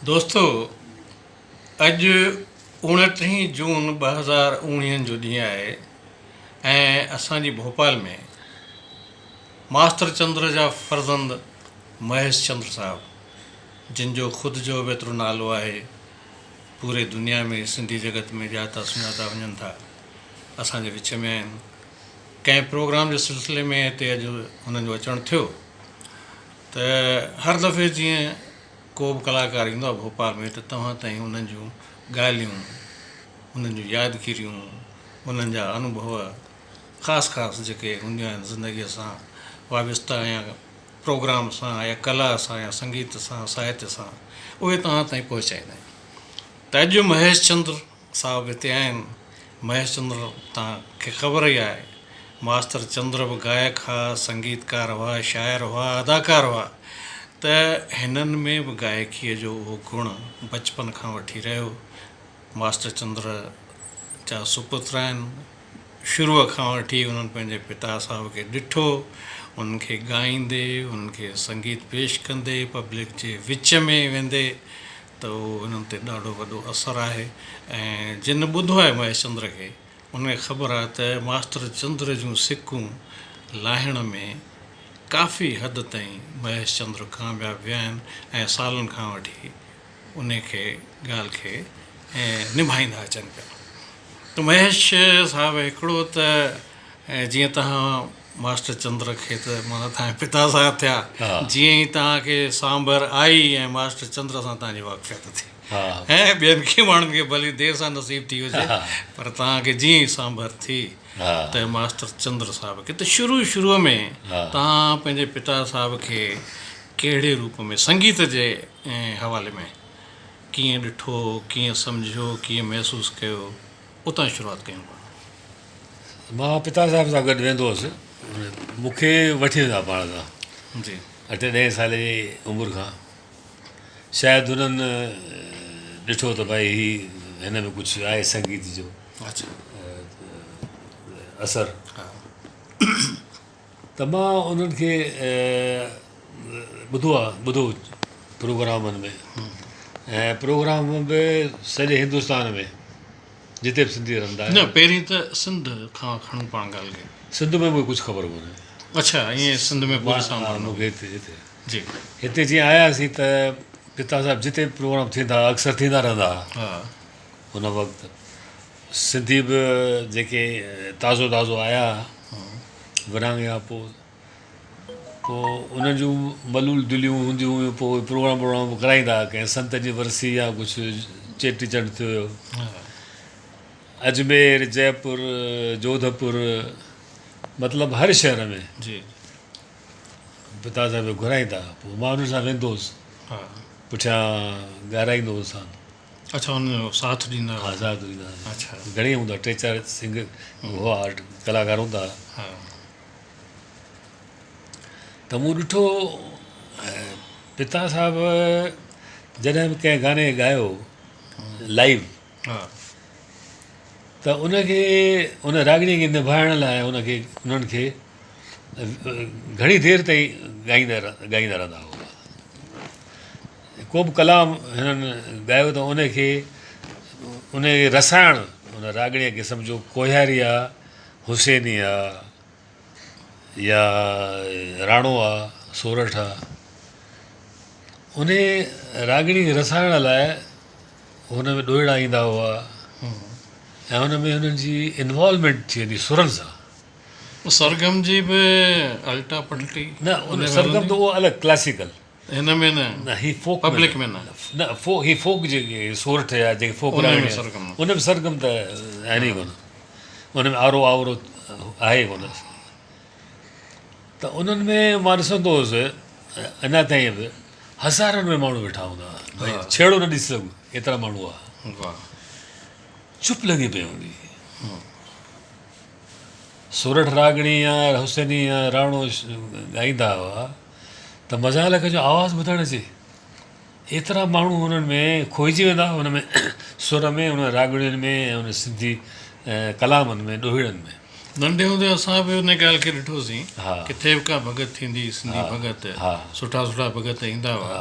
دوستو اڄ اوڻٽيهين جون ٻه هزار اوڻيهن جو ڏينهن آهي ۽ اسان جي ڀوپال ۾ ماستر چندر جا فرزند مهيش چندر صاحب جن جو خود جو به ايترو نالو آهي پوري دنيا ۾ سنڌي جڳت ۾ ڄاتا سڃاتا وڃن ٿا اسان جي وچ ۾ آهن ڪنهن پروگرام جي سلسلي ۾ هتي اڄ هنن جو اچڻ ٿيو ته هر دفعي جيئن ڪو به ڪلاڪار ايندو آهي ڀوپال ۾ ته توهان تائين انهن جون ڳالهيون انهن جون يادگيريون انهن جا انوڀو خاص خاص جيڪي هونديون آهن زندگيء سان وابسته يا پروگرام سان يا ڪلا سان يا سنگيت سان ساهت سان اهي توهان تائين پهچائيندا آهن ته اڄ مهيش چندر صاحب هتي آهن، مهيش چندر تان کي خبر ئي آهي. ماستر چندر به گائڪ ها، سنگيتڪار هئا، شاعر هئا، اداڪار هئا ته هنن ۾ به گائڪيء جو اهو گڻ بچپن کان وٺي رهيو. ماستر چندر جا سپوت آهن. شروع کان وٺي انهن پنهنجي پتا صاحب کي ڏٺو، انهن کي ڳائيندي، انهن کي سنگيت پيش ڪندي، پبلڪ جي وچ ۾ ويندي ته انهن تي ڏاڍو وڏو اثر آهي ۽ جنھن ٻڌو آهي مهيش چندر کي ان کي خبر آهي ته ماستر چندر جون سڪون لاهڻ ۾ ڪافي حد تائين مهيش چندر ڪامياب ويا آهن ۽ سالن کان وٺي ان کي ڳالھ کي نڀائيندا اچن پيا ته مهيش صاحب هڪڙو ته جيئن تهان ماسٽر چندر کي ته مانا تنهنجا پتا صاحب ٿيا، جيئن ئي توهان کي سانڀر آئي ۽ ماسٽر چندر سان توهان جي واقفيت ٿي ۽ ٻين ڪي ماڻهن کي ڀلي دير سان نصيب ٿي هجي پر توهان کي جيئن ئي سانڀر ٿي ته ماسٽر چندر صاحب کي ته شروع شروع ۾ توهان پنهنجي پتا صاحب کي ڪهڙي روپ ۾ سنگيت جي حوالي ۾ ڪيئن ڏٺو، ڪيئن سمجهيو، ڪيئن محسوس ڪيو، اتان شروعات ڪيون پاڻ. مان پتا صاحب سان گڏ ويندو هوس مون کي وٺي ويندا هئا پاڻ سان جي اٺ ڏهين سالي جي عمر کان شايد هنن ڏٺو ته ڀائي هي هن ۾ ڪجهه آهي سنگيت جو اثر ته مان انهن کي ٻڌو آ ٻڌو پروگرامن ۾ ۽ پروگرام به سڄي هندستان ۾ جتي به سنڌي رهندا آهن. نه پهرين ته سنڌ کان کڻون پاڻ ڳالهه کي. سنڌ ۾ مونکي ڪجهه خبر ڪونهي. اڇا ائين سنڌ ۾ پوري سان مان مونکي هتي هتي جي هتي جي آيا سين ته پتا صاحب جتي به پروگرام ٿيندا اڪثر ٿيندا رهندا ها ان وقت سنڌي به جيڪي تازو تازو آيا ورهاڱي کان پوء پوء انهن جون ملول دليون هونديون هيون پوء اهي پروگرام پروگرام به ڪرائيندا هئا ڪنهن سنت جي ورسي يا ڪجهه چيٽي چنڊ ٿيو هيو اجمير جئپور جوڌپور مطلب هر شهر ۾ پتا صاحب کي گهرائيندا هئا پوء مان انهن سان ويندو هوس پٺيان ڳارائيندو هوسان اچا ان جو ساٿ ڏيندا ها ساٿ ڏيندا ها اچا گهڻي هوندا ٽي چار سنگ هو آرٽ ڪلاڪار هوندا ها ته مون ڏٺو پتا صاحب جڏهن به ڪنهن گاني کي ڳايو لائيو ها ته ان کي ان راڳڻي کي نڀائڻ لاء ان کي انهن کي گهڻي دير تائين ڳائيندا ڳائيندا رهندا هئا ڪوبه ڪلام هنن ڳايو ته انهي کي انهي کي رسائڻ ان راڳڻيء کي سمجهو ڪوهياري آ، حسيني آ يا راڻو آ، سورٺ آ. انهي راڳڻي کي رسائڻ لاء هن ۾ ڏوهيڙا ايندا هئا ۽ ان ۾ هنن جي انوالومينٽ ٿي ويندي سرن سان. سرگم جي به الٽا پلٽي. نه سرگم ته اهو الڳ ڪلاسيڪل. هن ۾ نه پبلڪ ۾ نه. نه هي فوڪ جيڪي سورٺ يا جيڪي فوڪ راڳ آهن ان ۾ سرگم ته آهن ئي ڪونه ان ۾ آرو آورو آهي ئي ڪونه ته انهن ۾ مان ڏسندو هوس اڃا تائين به هزارن ۾ ماڻهو ويٺا هوندا هئا ڇيڙو نه ڏسي سگهو ايترا ماڻهو هئا چپ لڳي پئي هوندي هئي سورٺ راڳڻي يا حسيني يا راڻو ڳائيندا هئا ته مزالڪ جو آواز ٻڌڻ اچي. ايترا ماڻهو انهن ۾ کوئجي ويندا، ان ۾ سر ۾، انهن راڳڻين ۾، ۽ انهن سنڌي ڪلامن ۾، ڏوهيڙن ۾. ننڍي هوندي اسان به ان ڳالهه کي ڏٺوسين، ڪٿي به ڪا ڀڳت ٿيندي هئي، سنڌي ڀڳت، سٺا سٺا ڀڳت ايندا هئا،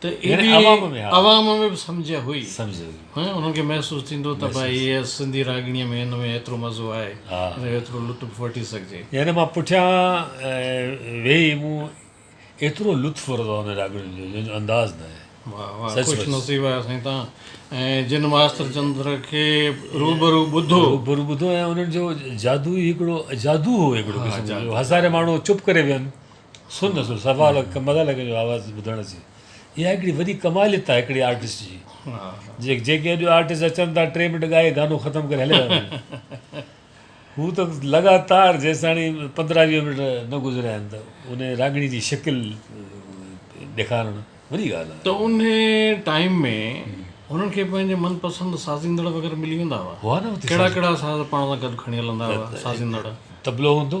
ته ايڏي عوام ۾ به سمجهه هئي انهن کي محسوس ٿيندو ته ڀائي هيء سنڌي راڳڻيء ۾ هن ۾ ايترو مزو آهي هن جو ايترو لطف وٺي سگهجي. يعني مان پٺيان ويهي مون ايترو لطف ورتو آهي انهن راڳڻين جو جنهن جو انداز نه آهي. واهه واهه خوش نصيب آهيو سائين توهان ۽ جن ماستر چندر کي روبرو ٻڌو. روبرو ٻڌو ۽ انهن جو جادو ئي هڪڙو جادو هو هڪڙو قسم جو هزارين ماڻهو چپ ڪري ويهن سن سن سوال مزا لڳي جو آواز ٻڌڻ اچي اها هڪڙي وڏي ڪماليت آهي هڪڙي آرٽسٽ جي جي جيڪي اڄ آرٽسٽ اچن ٿا ٽي منٽ ڳائي گانو ختم ڪري هليا هو ته لڳاتار جيستاڻي پندرهن ويهه منٽ نه گذريا آهن ته ان راڳڻي جي شڪل ڏيکارڻ وڏي ڳالهه آهي ته ان ٽائيم ۾ انهن کي پنهنجي من پسند سازيندڙ وغيره ملي ويندا هئا هئا نه اتي ڪهڙا ڪهڙا ساز پاڻ سان گڏ کڻي هلندا هئا سازيندڙ تبلو هوندو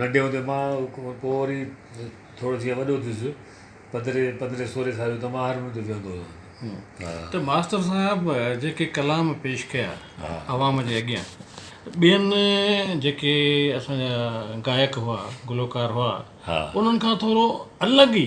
ننڍي هوندي مان پوء وري ٿورو جيئن وڏو ٿيس پندرهين پندرهين سورهين سال جو ته مان هارمونيم تي ويهندو هوسان ها. ته ماستر صاحب جيڪي ڪلام پيش ڪيا عوام جي اڳيان ٻين جيڪي اسان جا گائڪ هئا گلوڪار هئا انهن کان ٿورو الڳ ئي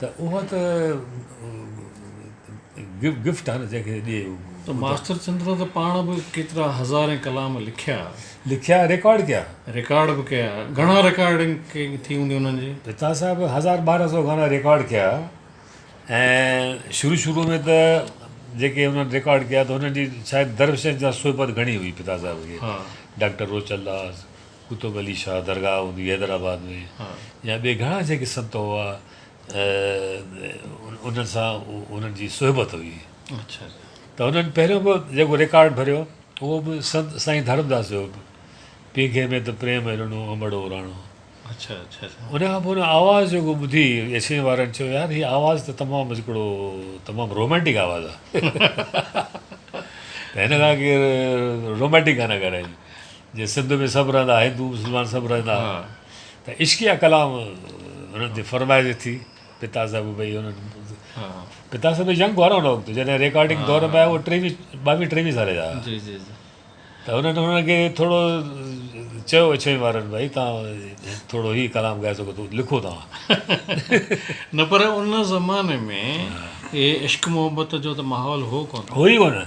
ته اها ته گفٽ آهي نه جنهن کي ڏي اهو. ته ماستر چندرن ته پاڻ به ڪيترا هزارين ڪلام لکيا. لکيا ۽ ريڪارڊ ڪيا. ريڪارڊ به ڪيا. گهڻا ريڪارڊنگ ٿي هوندي انهن جي. پتا صاحب هزار ٻارهن سو گانا ريڪارڊ ڪيا ۽ شروع شروع ۾ ته جيڪي انهن ريڪارڊ ڪيا ته هنن جي شايد درفشن جا صحبت گهڻي هئي پتا صاحب کي ڊاڪٽر روچل داس قطب علي شاهه درگاهه هوندي هئي حيدرآباد ۾ يا ٻي گهڻا جيڪي سنت هئا انهن سان هنن جي صحبت هئي ته هنن پهريون به جيڪو رڪارڊ ڀريو اهو به سنت سائين ڌرمداس جو هو پينگهي ۾ ته پريم هرڻو امڙو اراڻو ان کان پوء هن آواز جيڪو ٻڌي ايڇني وارن چيو يار هي آواز ته تمام هڪڙو تمام رومانٽڪ آواز آهي ته هن کان ڪير رومانٽڪ گانا ڳائرائين جي سنڌ ۾ سڀ رهندا هندو مسلمان سڀ رهندا ته عشقيه ڪلام انهن تي فرمائجي ٿي پتا صاحب ڀئي انهن پتا صاحب ينگ هئا نه ان وقت جڏهن ريڪارڊنگ دور ۾ آيا هو ٽيوي ٻاويهه ٽيوي سال جا جي جي جي ته انهن انهن کي ٿورو چيو اڇوين وارن ڀئي تان ٿورو هي ڪلام ڳائي سگهو ٿو لکو توهان نه پر ان زماني ۾ هي عشق محبت جو ته ماحول هو ڪونه هو ئي ڪونه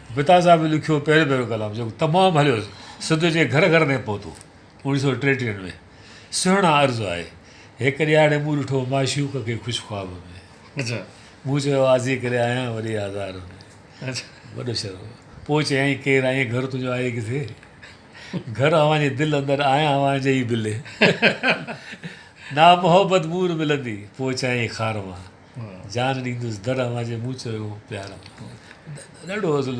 بتا صاحب لکيو پهريون پهريون ڪلام جيڪو تمام هليو سنڌ جي گهر گهر تائين پهتو اوڻيهه سؤ ٽيٽيهه ۾ سهڻا عرض آهي هڪ ڏيهاڙي مون ڏٺو معشوق کي خوش خواب ۾ مون چيو آزي ڪري آهيان وري آزار ۾ وڏو شعر پوء چيائين ڪير آهين گهر تنهنجو آهي ڪٿي گهر اوهان جي دل اندر آهيان اوهان جي ئي بلي نا محبت مور ملندي پوء چيائين خار مان جان ڏيندس در اوهان جي مون چيو پيار ڏاڍو اصل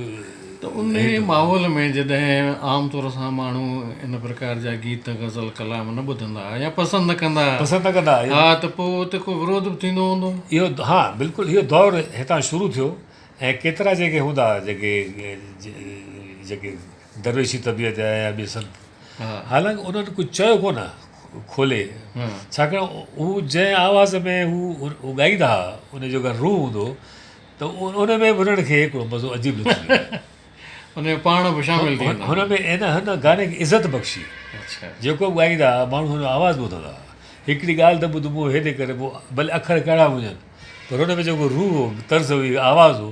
ته ان ماحول ۾ جڏهن عام طور سان ماڻهو ان پرڪار جا گيت غزل ڪلام نه ٻڌندا يا پسند نه ڪندا پسند نه ڪندا ها ته پوء اتي ڪو وروڌ به ٿيندو هوندو اهو ها بلڪل اهو دور هتان شروع ٿيو ۽ ڪيترا جيڪي هوندا جيڪي جيڪي درويشي طبيعت جا يا ٻي سڀ حالانڪ انهن ڪجهه چيو ڪونه کولي ڇاڪاڻ هو جنهن آواز ۾ هو ڳائيندا هئا ان جو اگر روح هوندو ته ان ۾ به انهن کي هڪڙو مزو عجيب لڳندو ان جو پاڻ به شامل ٿي هن ۾ ان هن گاني کي عزت بخشي اچھا جيڪو به ڳائيندا هئا ماڻهو هن جو آواز ٻڌندا هئا هڪڙي ڳالهه ته ٻڌ مون هيڏي ڪري مون ڀلي اکر ڪهڙا به هجن پر ان ۾ جيڪو روح هو طرز هئي آواز هو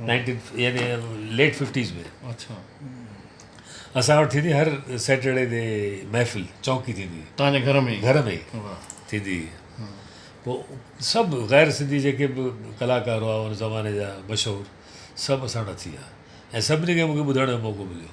نائنٽين يعني ليٽ ففٽيز ۾ اچھا اسان وٽ ٿيندي هر سيٽرڊي تي محفل چونڪي ٿيندي هئي تنهنجي گھر ۾ گھر ۾ ٿيندي هئي پوء سڀ غير سنڌي جيڪي به ڪلاڪار هئا ان زماني جا مشهور سڀ اسان وٽ اچي ويا ۽ سڀني کي مونکي ٻڌڻ جو موقعو مليو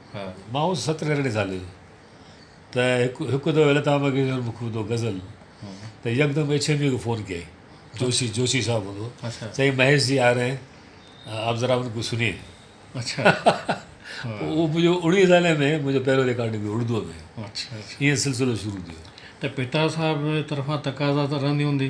ماهوس ست ريلڙي زالي ته هڪ دو ويل تان بگي جون مک ٻڌو غزل ته يڪدم ايڇ ايم يو کي فون ڪيائين جوشي جوشي صاحب هوندو چيائين مهيش جي آ رهي آپ ذرا ان کو سنيي اڇا اهو منهنجو اڻويهين سالي ۾ منهنجو پهريون ريڪارڊنگ هو اڙدوء ۾ اڇا اڇا ائين سلسلو شروع ٿيو ته پتا صاحب طرفان تقاضا ته رهندي هوندي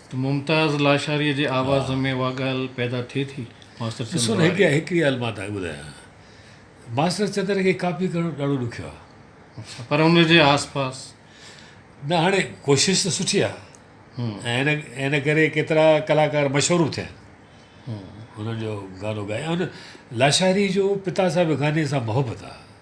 ته ممتاز لاشاريء جي آواز ۾ اها ڳالهه پيدا ٿئي ٿي. ماستر چندر ڏسو ته هڪ واري. هڪڙي ڳالهه مان تهانکي ٻڌايان. ماستر چندر کي ڪاپي ڪرڻ ڏاڍو ڏکيو آهي. اڇا پر ان جي آس پاس. نه هاڻي ڪوشش ته سٺي آهي ۽ ان ان ڪري ڪيترا ڪلاڪار مشهور به ٿيا آهن. انهن جو گانو ڳائي ۽ ان لاشاري جو پتا صاحب گاني سان محبت آهي.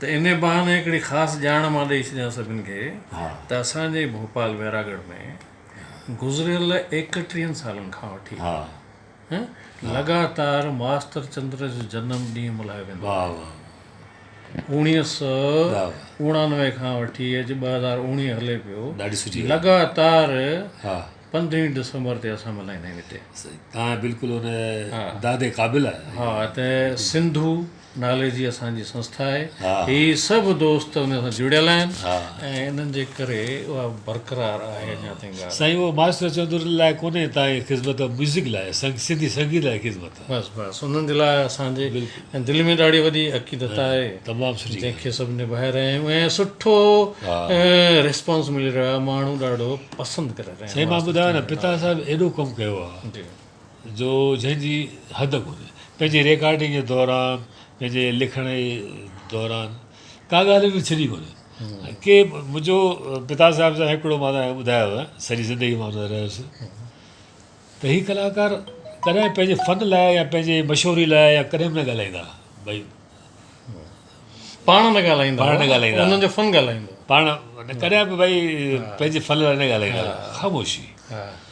ته انهي بهاني هڪڙي خاص ڄاڻ مان ڏئي ڇڏيان سڀن کي ته اسان جي ڀوپال ويراڳڙهه ۾ گذريل ايڪٽيهن سالن کان وٺي لڳاتار ماستر چندر جو جنم ڏينهن ملهايو ويندو آهي. اوڻيهه سؤ اوڻانوي کان وٺي اڄ ٻه هزار اوڻيهه هلي پيو لڳاتار پندرهين ڊسمبر تي اسان ملهائيندا آهيون هتي. ته سنڌو، نالي جي اسان جي سنسٿا آهي هي سڀ دوست ان سان جڙيل آهن ۽ انهن جي ڪري اها برقرار آهي اڃا تائين ڳالهه. سائين اهو ماسٽر چوندرن لاء ڪونهي تائين خدمت اهو ميوزڪ لاء سنڌي سنگيت لاء خدمت آهي. بس بس انهن جي لاء اسان جي دل ۾ ڏاڍي وڏي عقيدت آهي تمام سٺي جنهن کي سڀ نڀائي رهيا آهيون ۽ سٺو ريسپانس ملي رهيو آهي ماڻهو ڏاڍو پسند ڪري رهيا آهن سائين مان ٻڌايو نه پتا صاحب ايڏو ڪم ڪيو آهي جو جنهن جي حد ڪونهي. پنهنجي ريڪارڊنگ جي دوران، پنهنجي لکڻ جي دوران ڪا ڳالهه به ڇڏي ڪونهي. ڪي منهنجو پتا صاحب سان هڪڙو مان تنهن کي ٻڌايو آهي، سڄي زندگي مان ٻڌائي رهيس ته هي ڪلاڪار ڪڏهن پنهنجي فن لاء يا پنهنجي مشهوري لاء يا ڪڏهن به نه ڳالهائيندا ڀئي. پاڻ نه ڳالهائيندا پاڻ نه ڳالهائيندا انهن جو فن ڳالهائيندو پاڻ ڪڏهن به ڀائي پنهنجي فن لاء نه ڳالهائيندا خاموشي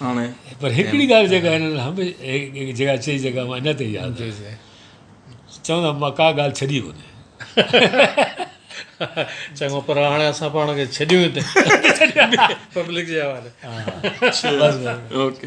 هاڻي پر هڪڙي ڳالهه جيڪا هنن هميشه جيڪا چئي جيڪا مان اڃا تائين ياد آهي چوندا مان ڪا ڳالهه ڇڏي ڪونهي چڱو پر هاڻي اسان پاڻ کي ڇڏيون هتي پبلڪ جي حوالي اوڪي